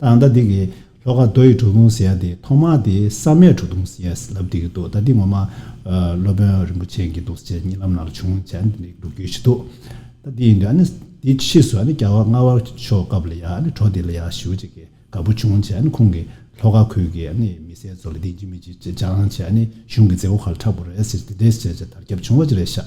ད་ལྟ་འདི་གི་ལྷོ་ཁ་རྡོ་ཡི་བྲོ་ཕུང་ཟེར་ཡ་དེ་ཐོག་མ་དེ་ས་མའི་བྲོ་ཐུང་ཟེར་ཡས་ལབ་འདི་གི་འདུག་ད་འདི་ངོ་མ་སློབ་དཔོན་རིན་པོ་ཆེ་གི་འདུག་ཟེར་གཉིས་ལམ་ནང་ལ་བྱུང་བས་འདི་འདི་འདུག་རྒྱུ་ཞིག་འདུག་ད་འདི་ཡིན་དུས་ཨ་ནི་འདི་ཕྱིས་སུ་ཨ་ནི་རྒྱ་བ་རྔ་བ་ཕྱོགས་སྐབས་ལ་ཡ་ཨ་ནི་བྲོ་འདི་ལ་ཡ་ཞུ་ཅིག་གི་དགའ་པོ་བྱུང་བྱས་ཨ་ནི་ཁོང་གི་ལྷོ་ཁ་ཁུལ་གི་ཨ་ནི་མི་སེར་ཚོ་ལ་འདི་འཇི་མི་འཇི་ཅེ་སྤྱང་བྱས་ཨ་ནི་གཞུང་གི་མཛད་སྒོ་ཁག་ལ་འཁྲབ་དགོས་རེད་ཟེར་གྱི་འདི་འདི་ཟེར་བྱས་དར་ཁྱབ་བྱུང་བ་ཅི་རེད་ཤག་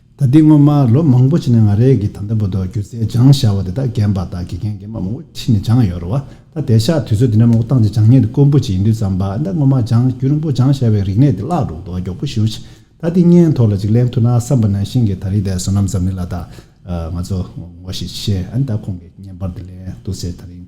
ད་ལྟའི་སྔོན་མ་ལོ་མང་པོ་ཕྱི་ནས་ང་རེ་གི་ད་ལྟ་བུ་དོ་སྒྱུ་རྩལ་སྦྱང་ཤ་བ་དེ་དག་རྒན་པ་དག་གི་རྒན་རྒན་མ་མང་པོ་ཕྱི་ནས་སྦྱང་ཡོད་རུ་བ་ད་དེ་ཤག་དུས་ཚོད་དེ་འདྲ་མང་པོ་བཏང་རྗེས་སྦྱང་ཉེན་དུ་དཀོན་པོ་ཅིག་ཡིན་དུས་བརྩམས་པ་ད་སྔོན་མ་སྦྱང་རྒྱུ་རིང་པོ་སྦྱང་ཤ་བའི་རིག་གནས་དེ་བརླག་འགྲོ་འདུག་མགྱོགས་པོ་ཞུ་ཞེས་ད་འདི་སྙན་ཐོ་ལ་ཅིག་གླེང་ཐུབ་ན་བསམ་པ་ནང་བཞིན་གྱི་ད་རིང་དེ་སོ་ནམ་ཙམ་ནི་ལ་དྭགས་ང་ཚོ་ངོ་ཞེས་བཤད་ད་ཁོང་གི་བརྙན་པར་དེ་གླེང་འདུག་ཟེར་ད་རིང